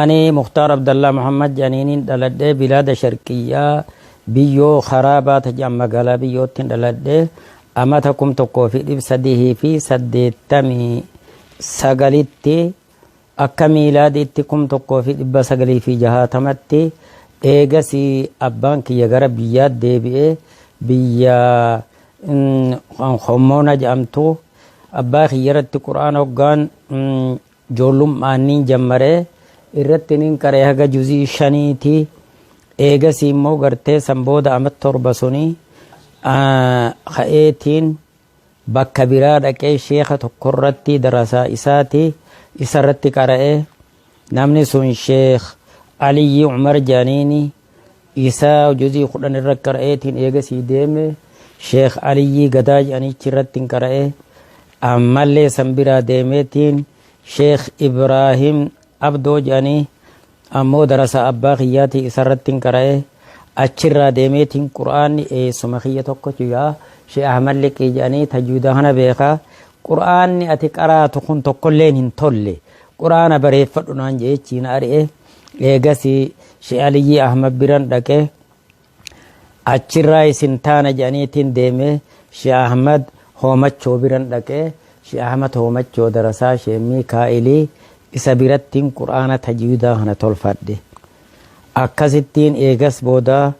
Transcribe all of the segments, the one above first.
Ani Muktaar Abdallaa Muhammad jedhaniinin dhaladhe bilaada sharqiyyaa biyyoo karaa baata jedhan magaalaa biyyoottin dhaladhe amata kum tokkoo fi dhib sadihii fi saddeettamii sagalitti akka miilaadiitti kum tokkoo fi dhibba sagalii fi jahaatamatti eegasi abbaan kiyya gara biyyaa deebi'e biyya hommoona jedhamtu abbaa kiyya irratti quraan hoggaan Joollum'aan niin jammare, irratti niin qare haga juz'ii shanii ti. Eegasii immoo gartee san booda amat torba suni ka'eetiin bakka biraa dhaqee sheekha tokko irratti darasaa isaa ti isa irratti qara'e. Namni sun Sheekh Aliyyii Umar jedhaniini. isaa juzii kudhan irra qara'eetiin eegasii deeme sheekh aliyyii gadaa jedhanichi irrattiin qara'e ammallee san biraa deemeetiin sheekh ibraahim abdoo jedhanii ammoo darasaa abbaa kiyyaatii isarrattiin qara'e achirraa deemeetiin qur'aanni eessuma kiyya tokko jiraa sheekh ahmad liqii jedhanii tajwiida kana beekaa qur'aanni ati qaraatu kun tokkolleen hin tolle qur'aana bareeffadhu naan jeechiin ari'e Eegasi Sheh Aliyyii Ahmad biran dhaqe. Achirraayis hin taana jedhaniitiin deeme. Sheh Ahmad Hoomachoo biran dhaqe. Sheh Ahmad Hoomachoo darasaa Sheh Miikaa'ili isa birattiin Qur'aana tajwiidaa kana tolfadhe. Akkasittiin eegas booda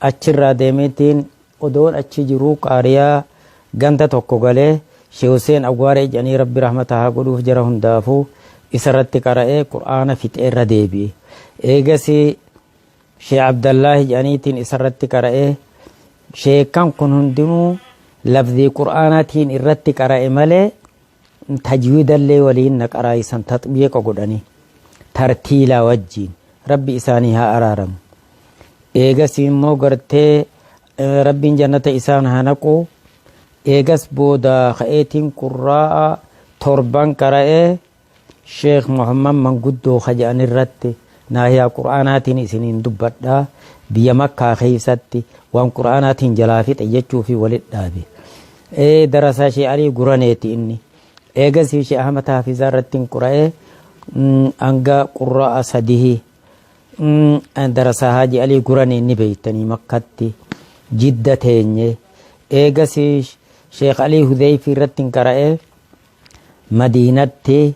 achirraa deemeetiin Odoon achi jiruu qaariyaa ganda tokko galee Sheh Husseen Awwaaree jedhanii Rabbi rahmata haa godhuuf jara hundaafuu isarratti qara'ee Qur'aana fixee irra deebi'e. Eegasii Sheh Abdallaahi jedhaniitiin isarratti qara'ee sheekkan kun hundinuu lafzii Qur'aanaatiin irratti qara'e malee tajwiidallee waliin na qaraayisan taxbiiqa godhanii tartiilaa wajjiin rabbi isaanii haa araaramu eegas immoo gartee rabbiin jannata isaan haa naqu eegas booda ka'eetiin qurraa'a torban qara'ee sheekh muhammad manguddoo kaja'an irratti naahiyaa qur'aanaatiin isiniin dubbadha biyya makkaa keessatti waan qur'aanaatiin jalaa fixe jechuu fi walit dhaabe Ee darasaa Shee Alii Guraneeti inni. Eegasii Shee Ahmad Haafizaa irrattin qura'ee hanga qurra'a sadihi darasaa Haaji Alii Guranee ni beektanii Makkatti jidda teenye. Eegasii Sheekh Alii Hudeeyfii irrattin qara'ee Madiinatti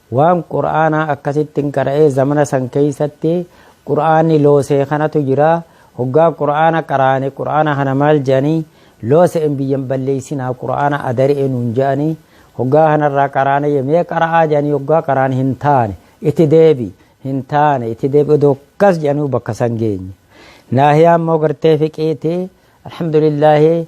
Waan Qur'aanaa akkasittin qara'ee zamana san keessatti Qur'aanni loosee kanatu jira. Hoggaa Qur'aana qaraane Qur'aana kana maal jedhanii loose'een biyya hin balleessinaa Qur'aana adari'e nuun jedhanii hoggaa kanarraa qaraane jee mee qara'aa jedhanii hoggaa qaraan hin taane itti deebi hin taane itti deebi odoo akkas jedhanuu bakka san geenye. Naahiyaa immoo gartee fiqiiti alhamdulillaahi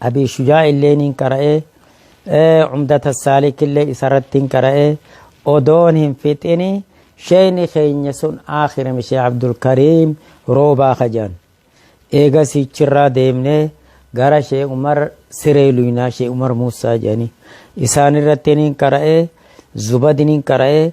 Abii Shujaa illee niin qara'e, Cumdata Saalik illee isarratti hin qara'e, odoon hin fixini sheeyni keenya sun aakhirame Sheekh Abdulkariim Roobaa ka jedhan. Eegasii achirraa deemnee gara Sheekh Umar Siree Luynaa, Sheekh Umar Muussaa jedhanii. Isaanirratti niin qara'e, Zubadi niin qara'e,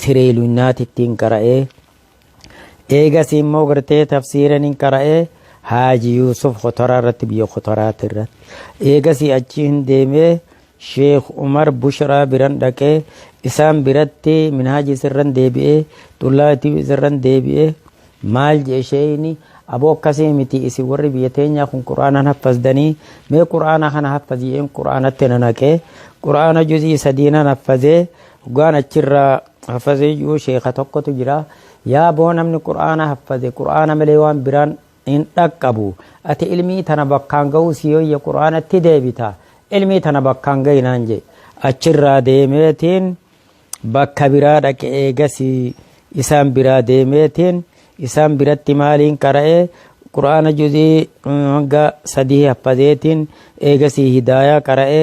siree lunyaatittiin qara'ee eegasii immoo gartee tafsiiraniin qara'ee haaji yuusuf kotoraa irratti biyya kotoraati irratti eegasii achii hin deemee sheekh umar bushraa biran dhaqee isaan biratti minhaaji isirran deebi'ee xullaatii isirran deebi'ee maal jee sheeyni aboo akkasii miti isin warri biyya teenyaa kun qura'aanaan haffasdanii mee qura'aana kana haffaziyeen qura'aanatti na naqee qura'aana juzii sadiinan haffazee Dhugaan achirraa haffazee jiru sheeka tokkotu jira. Yaa boo namni Qur'aana haffaze Qur'aana malee waan biraan hin dhaqqabu. Ati ilmii tana bakkaan gahuu si yoyya Qur'aanatti deebita. Ilmii tana bakkaan gahi naan jedhe. Achirraa deemeetiin bakka biraa dhaqe eegasii isaan biraa deemeetiin isaan biratti maaliin qara'e Qur'aana juzii hanga sadii haffazeetiin eegasii hidaayaa qara'e.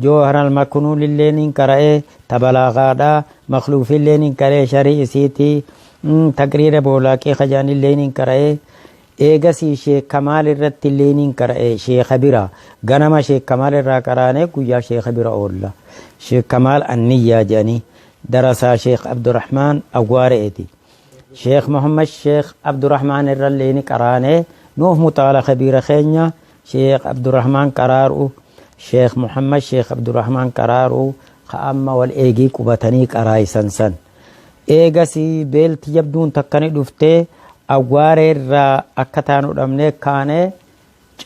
Joohar Almaknuulillee nin qara'e, ta Balaaghaadha, Makhluufillee nin qara'e, Sharhii isiiti, Taqriira Boolaaqii ka jedhanillee nin qara'e, eegasii Sheekh Kamaal irrattillee nin qara'e, Sheekha bira. Ganama Sheekh Kamaal irraa qaraanee guyyaa Sheekha bira oolla. Sheekh Kamaal Anniyyaa jedhanii, darasaa Sheekh Abdurahmaan Awwaare'eeti. Sheekh Muhammad Sheekh Abdurahmaan irrallee ni qaraanee, nuuf muxaala Kabiira keenya, Sheekh Abdurahmaan Qaraaruu, Sheekh Muhammad Sheekh Abdurahmaan Qaraaruu ka amma wal eegii qubatanii qaraayisan san. Eegasii beelti jabduun takka ni dhufte, awwaaree irraa akka taanu dhabnee kaane,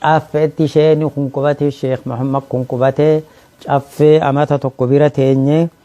caffeetti sheeyni kun qubate, Sheekh Muhammad kun qubate, caffee amata tokko bira teenye.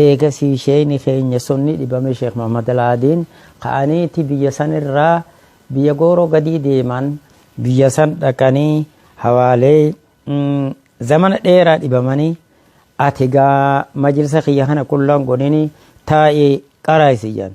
Eegasii sheeyni keenya sunni dhibame Sheekh Muhammad Alaadiin ka'aniiti biyya san irraa biyya gooroo gadii deeman. Biyya san dhaqanii hawaalee zamana dheeraa dhibamanii ati gaa majlisa kiyya kana qullaan godhini taa'i qaraa'i si jedhan.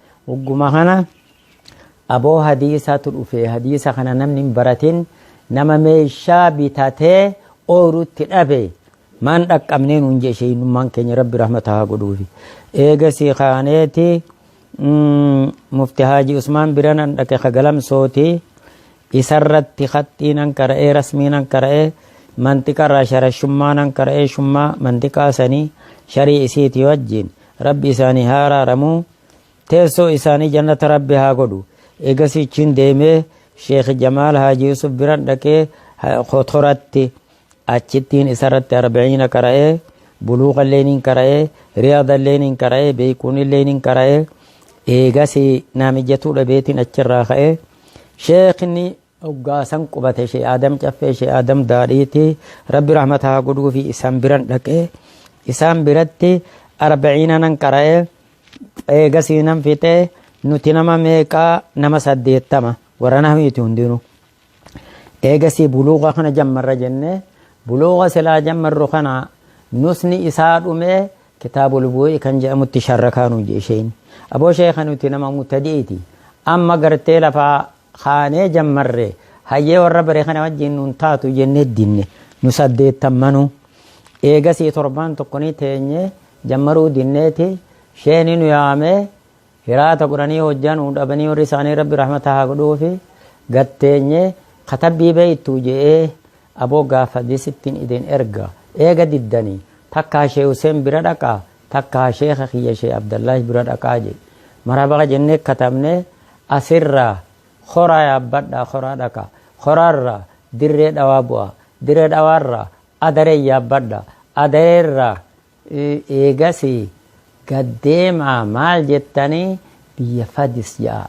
Hogguma kana aboo hadiisaatu dhufe hadiisa kana namni hin baratin nama meeshaa bitatee ooyruutti dhabe maan dhaqqabnee nuun jee sheeynummaan keenya rabbi rahmata haa godhuufi eegasii kaaneeti mufti haaji usmaan biranan dhaqe kagalamsooti isarratti haxxiinan qara'ee rasmiinan qara'ee mantiqarraa sharashummaa nan qara'ee shummaa mantiqaa sanii sharii isiiti wajjiin Rabbi isaanii haa araaramu, teessoo isaanii jannata Rabbi haa godhu. Eegasii achiin deemee Sheekh Jamaal Haaji Yusuf biran dhaqee Kotoratti achittiin isarratti arba'iina qara'ee, buluuqa illee niin qara'ee, riyaada illee niin qara'ee, beekuun illee niin qara'ee, eegasii naa mijatuu dhabeetiin achirraa ka'ee, Sheekhni Hoggaa san qubate Shee Aadam Caffee Shee Aadam Daadhiiti. Rabbi rahmata haa godhuufi isaan biran dhaqe. Isaan biratti arba'iina nan qara'e. Eegasii nan fixe. Nuti nama meeqaa nama saddeettama. Warra nahwiiti hundinuu. Eegasii buluuqa kana jammarra jenne. Buluuqa silaa jammarru kana nusni isaa dhume kitaabul bu'ii kan jedhamutti sharrakaa nu jee isheen. Aboo sheeka nuti nama mutadi'iti. Amma gartee lafaa kaanee jammarre hayyee warra bare kana wajjin nuun taatu jennee dinne nu saddeettammanuu eegasii torbaan tokkonii teenyee jammaruu dinneeti sheeni nu yaamee hiraata godhanii hojjaa nuu dhabanii warri isaanii rabbi rahmata haa godhuufi gatteenyee katabbii beeytu je'ee aboo gaafa disittiin idin erga eega diddanii takkaa shee huseen bira dhaqaa takkaa sheekha kiyya shee abdallaahi bira dhaqaa jee marhaba jennee katabnee asirraa horaa yaabbadhaa horaa dhaqa horaarraa dirree dhawaa bu'aa dirree dhawaarraa adaree yaabbadha adareerraa eegasii gaddeemaa maal jettanii biyya fadis ja'a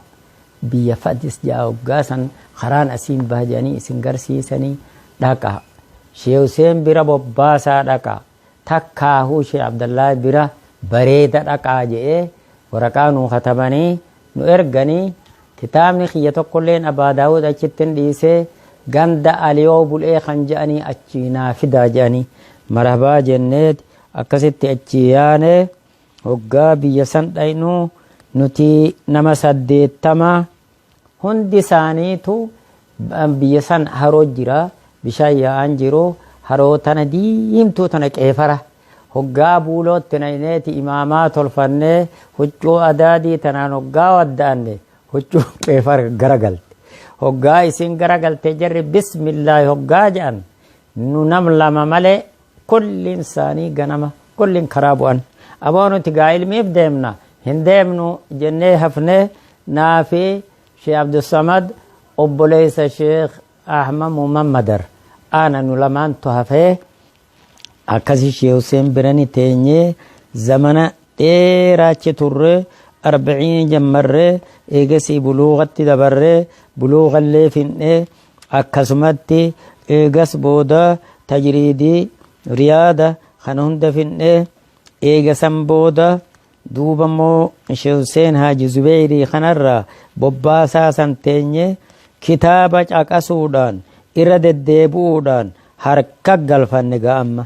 biyya fadis ja'a hoggaasan karaan asiin baha jedhanii isin garsiisanii dhaqa shee huseen bira bobbaasaa dhaqa Takkaahuu Sheh Abdallaahi bira bareeda dhaqaa je'ee waraqaa nuu katabanii nu erganii kitaabni kiyya tokkolleen Abaa Daawuud achitti hin dhiise ganda Aliyoo Bul'ee kan je'anii achii naa fidaa je'anii marahbaa jenneet akkasitti achii yaane hoggaa biyya san dhaynu nuti nama saddeettama Hundi isaaniitu biyya san haroo jira, bishaan yaa'aan jiru, haroo tana diimtuu tana qeefara. Hoggaa buulootti nayneeti imaamaa tolfannee huccuu adaadii tanaan hoggaa wadda'anne huccuun qeefara garagalte. Hoggaa isiin garagalte jarri bismillaahi hoggaa ja'an nu nam lama malee Kolliin isaanii ganama kolliin karaa bu'an. Aboo nuti gaa ilmiif deemna hin deemnu jennee hafne naafi Sheekh Abdussamad obboleessa Sheekh Ahmad Muhammadar aana nu lamaantu hafee akkasi Sheekh Huseen birani teenyee zamana dheeraa achi turre arbaciin jammarre eegasii buluuqatti dabarre buluuqallee finnee Akkasumatti eegas booda tajriidii, riyaada, kana hunda fidne. Eega san booda duuba immoo Sheikh Hussein Haaji Zubeyrii kanarraa bobbaasaa san teenye kitaaba caqasuudhaan irra deddeebi'uudhaan harka galfanne gaa amma.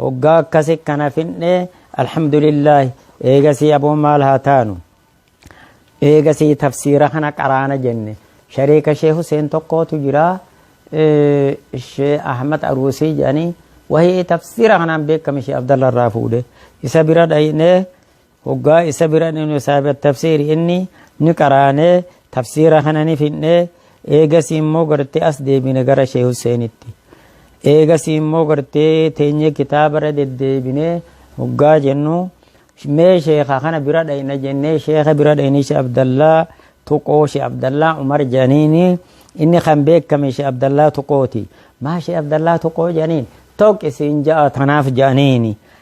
Hoggaa akkasi kana finne alhamdulillaahi eegasii aboo maal haa taanu eegasii tafsiira kana qaraana jenne shariika shee Huseen tokkootu jira shee Ahmad Aruusii jedhanii wahii tafsiira kanaan beekame shee Abdalla irraa fuudhe isa bira dhaynee Hoggaa isa bira dhaynu saahiba tafsiiri inni ni qaraanee tafsiira kana ni fidnee eegasii immoo gartee as deebine gara Sheeh Husseenitti. Eegasii immoo gartee teenyee kitaaba irra deddeebinee hoggaa jennu mee sheekha kana bira dhayna jennee sheekha bira dhaynee Sheeh Abdallaa Tuqoo Sheeh Abdallaa Umar jedhaniini inni kan beekame Sheeh Abdallaa Tuqooti. Maa Sheeh Abdallaa Tuqoo jedhaniin tokki siin ja'a tanaaf jedhaniini.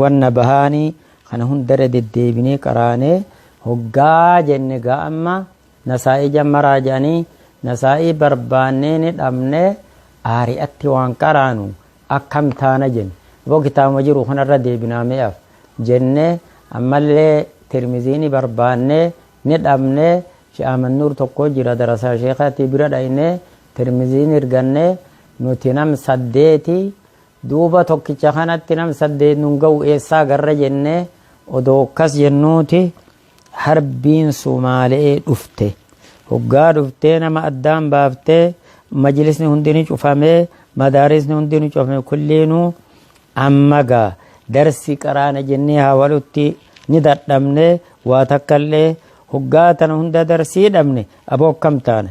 wanna bahaanii kana hundarra deddeebinee qaraanee hoggaa jenne gaa amma nasaa'ii jammaraa jedhanii nasaa'ii barbaannee ni dhabne aari'atti waan qaraanu akkam taana jenne boo kitaabuma jiru kanarra deebinaa mi'aaf jenne ammallee tirmizii ni barbaannee ni dhabne she'aamannuur tokko jira darasaa sheekaatii bira dhayne tirmizii ni arganne nuti nam saddeeti Duuba tokkicha kanatti nam saddeet nun gahu eessaa garra jennee odoo akkas jennuuti harbiin Sumaale'ee dhufte. Hoggaa dhuftee nama addaan baaftee majlisni hundi ni cufamee madaarisni hundi ni cufame kulliinuu amma gaa darsi qaraana jennee haawalutti ni dadhabne waa takkallee hoggaa tana hunda darsii dhabne aboo akkam taana.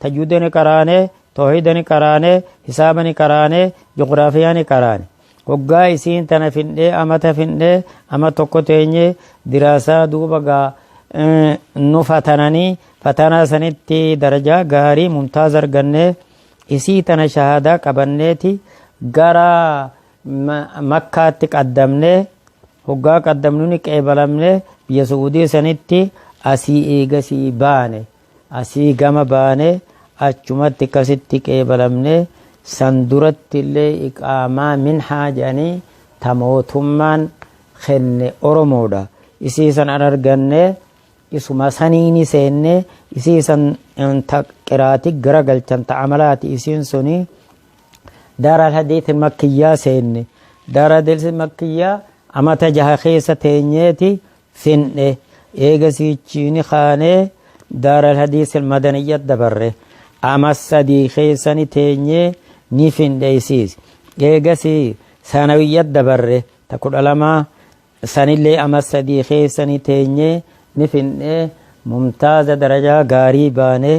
tajwida ni qaraane toohida ni qaraane hisaaba ni qaraane ji'ograafiyaa ni qaraane hoggaa isiin tana findhee amata findhee ama tokko teenye diraasaa duuba gaa nu fatananii fatanaa sanitti darajaa gaarii mumtaaz argannee isii tana shahaadaa qabanneeti gara makkaatti qaddamnee hoggaa qaddamnu ni qeebalamne biyya su'uudii sanitti asii eegasii baane Asii gama baanee achumatti akkasitti qeebalamne, san duratti illee iqaamaa minhaa jedhanii ta mootummaan kenne Oromoodha. Isii san an arganne, isuma saniini seenne, isii san ta qiraati garagalchan ta amalaati isiin suni. Daara Alhadiisil Makkiyyaa seenne. Daara Alhadiisil Makkiyyaa amata jaha keessa teenyeeti finne eega siichiini kaanee daaral hadiisil madaniyya dabarre ama sadii keessani teenyee ni finne isiis eegasi sanawiyya dabarre ta kudha lamaa sanillee ama sadii keessani teenyee ni finne mumtaaza darajaa gaarii baanee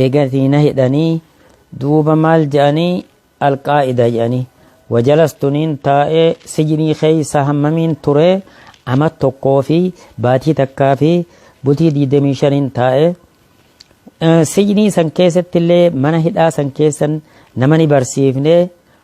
Eegasii na hidhanii duuba maal je'anii Al-Qaa'ida je'anii. Wajalas tuniin taa'ee sijinii keessa hammamiin ture ama tokkoo fi baatii takkaa fi bultii digdamii shaniin taa'e. Sijinii san keessattillee mana hidhaa san keessan nama ni barsiifne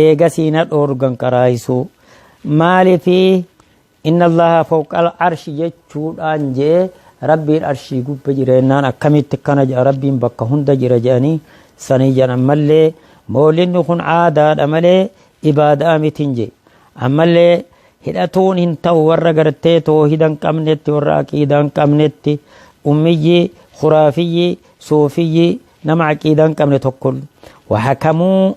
eegasii na dhoorgan qaraahisuu maalifi inna allaha fawqal arshi jechuudhaan jee rabbiin arshii gubba jireennaan akkamitti akkana jedha rabbiin bakka hunda jira jedhanii sanii jedhan ammallee moolinni kun aadaadha malee ibaadaa mitiin jee ammallee hidhatuun hin ta'u warra gartee toohida hin qabnetti warra aqiidaa hin qabnetti ummiyyi khuraafiyyi suufiyyi nama aqiidaa hin qabne tokko wahakamuu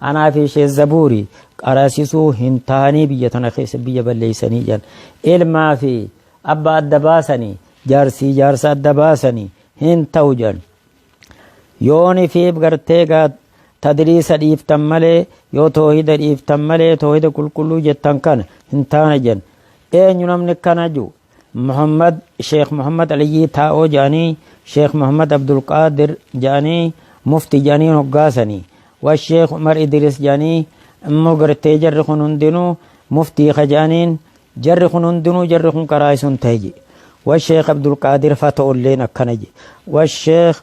Anaa fi Sheikh Zabuuri qarasisuu hin taanii biyya tana keessa biyya balleessanii jedhan. Ilmaa fi abba adda baasanii jaarsii jaarsa adda baasanii hin ta'u jedhan. Yooni fi gartee gaa tadriisa dhiiftan malee yoo toohida dhiiftan malee toohida qulqulluu jettan kana hin taana jedhan. Eenyu namni kana jiru? Muhammad Sheekh Muhammad Aliyyii Taa'oo ja'anii Sheekh Muhammad Abdulqaadir ja'anii mufti ja'anii hoggaasanii wa Sheekh Umar Idiris ja'anii immoo gartee jarri kun hundinuu muftii ka ja'aniin jarri kun hundinuu jarri kun karaa isun ta'e je wa Sheekh Abdulqaadir fa ta'ulleen akkana je wa Sheekh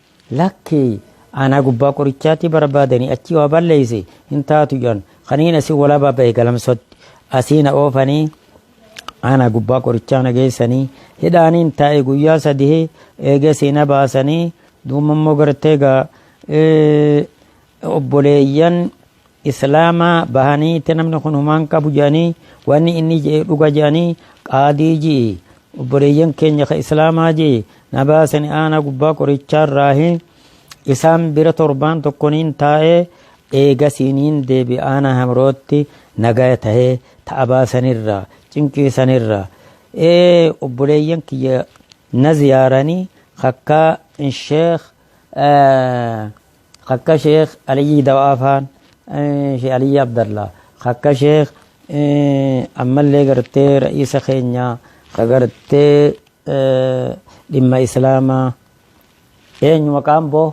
Lakki Aanaa Gubbaa Qorichaatti barbaadanii achii waa balleeyse hin taatu jedhan. Kaniin asii walaabaa bahe galamsootti. Asii na oofanii Aanaa Gubbaa Qorichaa na geessanii hidhaaniin taa'e guyyaa sadihee eegasii na baasanii duumammoo gartee gaa obboleeyyan islaama bahanii itti namni kun humaan qabu jedhanii wanni inni jedhe dhuga jedhanii qaadii ji'i obboleeyyan keenya ka islaamaa ji'i na baasani aanaa gubbaa qorichaa irraahi isaan bira torbaan tokkoniin taa'ee eegasiiniin deebi aanaa hamrootti nagaya tahee ta'a baasanirraa cinqiisanirraa ee obboleeyyan kiyya na ziyaaranii kakkaa sheekh Akka Sheekh Aliyyii Dawaa faan Sheekh Aliyyii Abdallaa akka Sheekh ammallee gartee ra'iisa keenya ka gartee dhimma Islaamaa eenyu maqaan boo?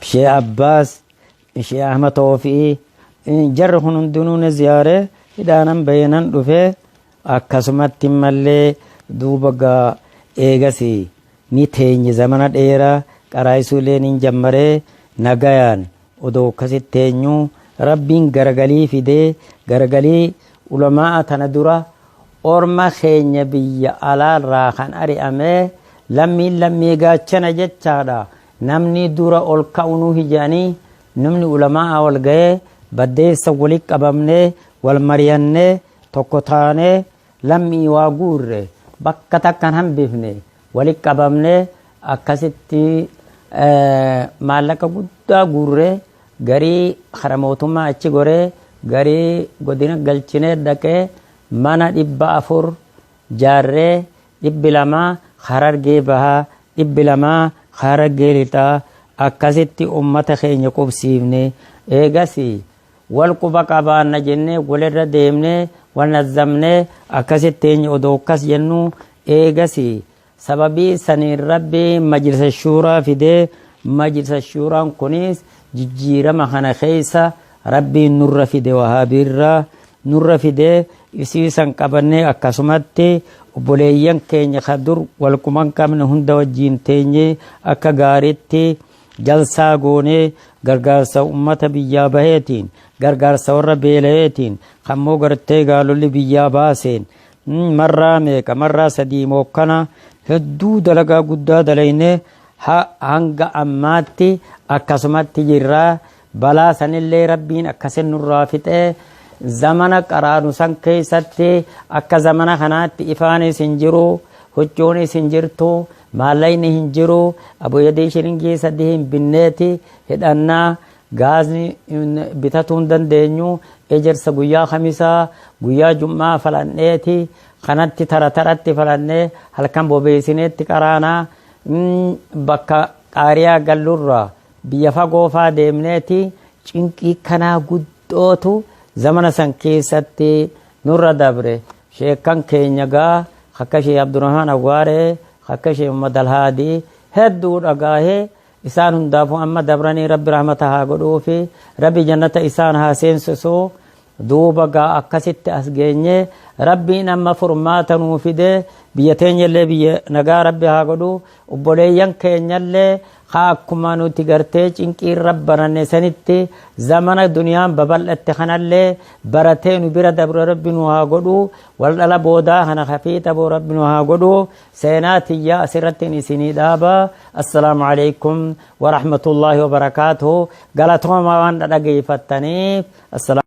Sheekh Abbaas Ishee Ahma Toofi'ii jarri kun hundinuu na ziyaare hidhaanan bahee nan dhufe akkasumatti mallee duuba gaa eegas ni teenye zamana dheeraa qaraayisuu illee niin jammaree nagayaan odoo akkasitti teenyu rabbiin garagalii fidee garagalii ulamaa'a tana dura orma keenya biyya alaarraa kan ari'amee lammiin lammii gaachana jechaadha Namnii dura ol ka'u nuhi jedhanii numni ulama'aa wal gayee baddeessa wali qabamnee wal mariyannee tokko taanee lammii waa guurre bakka takkan hambifne wali qabamnee akkasitti maallaqa guddaa guurree garii kara mootummaa achi goree garii godina galchinee dhaqee mana dhibba afur jaarree dhibbi lama Harargee Bahaa, dhibbi lama Harargee Lixaa akkasitti ummata keenya qubsiifne. Eegasii wal quba qabaanna jennee walirra deemnee wal nazzamnee akkasitti teenye odoo akkas jennuu eegasii sababii saniin Rabbiin Majlisa Shuuraa fidee Majlisa Shuuraan kunis jijjiirama kana keessa Rabbiin nurra fide wahaabiirra nurra fide isii san qabannee akkasumatti obboleeyyan keenya ka dur wal quban qabne hunda wajjiin teenye akka gaaritti jalsaa goone gargaarsa ummata biyyaa baheetiin gargaarsa warra beelayeetiin kammoo gartee gaalolli biyyaa baaseen marraa meeqa marraa sadii mookkana hedduu dalagaa guddaa dalayne hanga ammaatti akkasumatti jirraa Balaa sanillee Rabbiin akkasin nurraa fixee zamana qaraanu san keessatti akka zamana kanaatti ifaanis hin jiru, huccuunis hin jirtu, maallaqni hin jiru, aboyadii shiringii sadii hin binneeti hidhannaa gaazni bitatuu hin dandeenyu, ejersa guyyaa kamisaa guyyaa jum'aa falanneeti kanatti tara taratti falannee halkan bobeesineetti qaraanaa bakka xaariyaa gallurraa Biyya fagoo faa deemneeti cinqii kanaa guddootu zamana san keessatti nurra dabre. Sheekkan keenya gaa akka Sheekh Abdurrahmaan Awwaaree, akka Sheekh Muhammad Alhaadii hedduu dhagaahee isaan hundaafuu amma dabranii Rabbi rahmata haa godhuufi, Rabbi jannata isaan haa seensisu. duuba gaa akkasitti as geenye rabbiin amma furmaata nuu fide biyya teenyallee biyya nagaa rabbi haa godhu obboleeyyan keenyallee haa akkuma nuti gartee cinqii irra baranne sanitti zamana duniyaan babal'atte kanallee baratee nu bira dabre rabbi nu haa godhu wal dhala boodaa kana hafiixa boo rabbi nu haa godhu seenaa tiyyaa asirrattiin isinii dhaaba assalaamu alaikum warahmatullaahi wabarakaatuhu galatoomaa waan dhadhageeffattaniif Assalaamu.